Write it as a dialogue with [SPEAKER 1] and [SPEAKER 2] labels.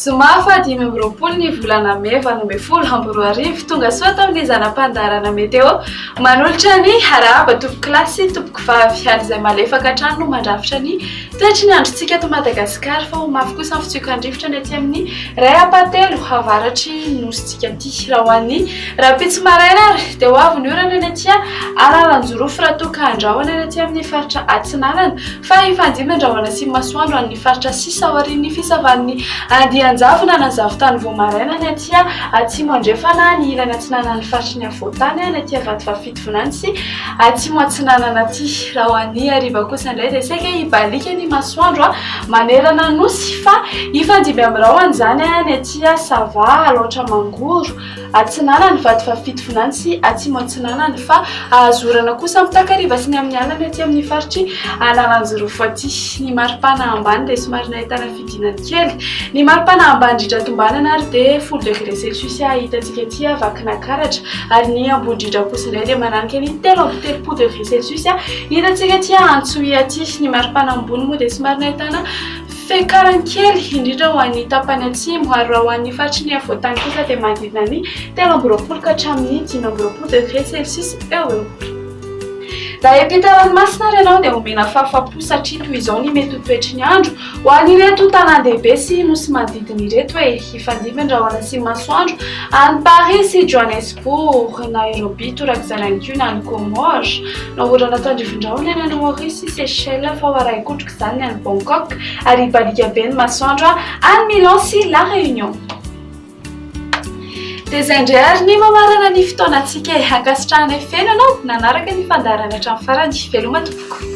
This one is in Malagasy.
[SPEAKER 1] Zoma faha dimy amby roapolo ny volana mey valo ambin'ny folo amby roa arivo. Tonga soa tamin'ny zana-pandaharana Meteo. Manolotra ny harahaba tompokolahy sy tompoko vavy ary izay malefaka hatrany no mandrafitra ny Toetry ny androntsika eto Madagasikara fa ho mafy kosa ny fitsiokan-drivotra ny aty amin'ny iray ampahateloh avaratry ny nosintsika aty. Raha ho an'ny rahampitso maraina ary dia ho avy ny orana ny aty alalan-jorofy raha toa ka handrahona ny aty amin'ny faritra Atsinanana fa hifandimby ny rahona sy ny masoandro an'ny faritra sisa aorian'ny fisavan'ny andian-javona na zavotany vao maraina ny aty Atsimo Andrefana ny ilany Atsinanan'ny faritry ny afovoan-tany ny aty Vatovavy Volantsy atsimo atsinanana aty raha ho an'ny hariva kosa indray dia saika hibaliaka ny masoandro manerana nosy fa hifandimby amin'ny rahona izany ny aty sava alaotra mangoro atsinanana vady fahafito volantsy atsimo atsinanana fa ahazorana kosa amin'ny takariva sy ny amin'ny alina ny aty amin'ny faritry analanjirofo aty ny maripana ambany dia somary nahitana Fidinany kely. Ny mari-pana ambani-driatra tombanana ary dia folo degre celsius hitantsika aty Vakinankaratra, ary ny amboni-driatra kosa indray dia mananika ny telo amby telopolo degre celsius hitantsika aty Antsohihy aty. Ny mari-pana ambony moa dia somary nahitana fiakarany kely, indrindra ho an'ny tapany atsimo, ary raha ho an'ny faritry ny afovoan-tany kosa dia manodidina ny telo amby roapolo ka hatramin'ny dimy amby roapolo degre celsius eo ho eo. Raha hiampita ranomasina ary ianao dia homena fahafam-po satria toy izao ny mety ho toetry ny andro. Ho an'ireto tanàn-dehibe sy nosy manodidina ireto e, hifandimby ny rahona sy ny masoandro, any Paris sy Johannesburg, Nairobi, torak'izany ihany koa na any Comores, na orana tandrivindrahona any any Maurice sy Seychelles, fa ho arahin-kotrok'izany ny any Bangkok, ary hibaliaka be ny masoandro any Milan sy La Réunion. Dia izay indray ary ny mamarana ny fotoanantsika e. Ankasitrahanay feno ianao nanaraka ny fandaharana hatramin'ny farany. Veloma tompoko.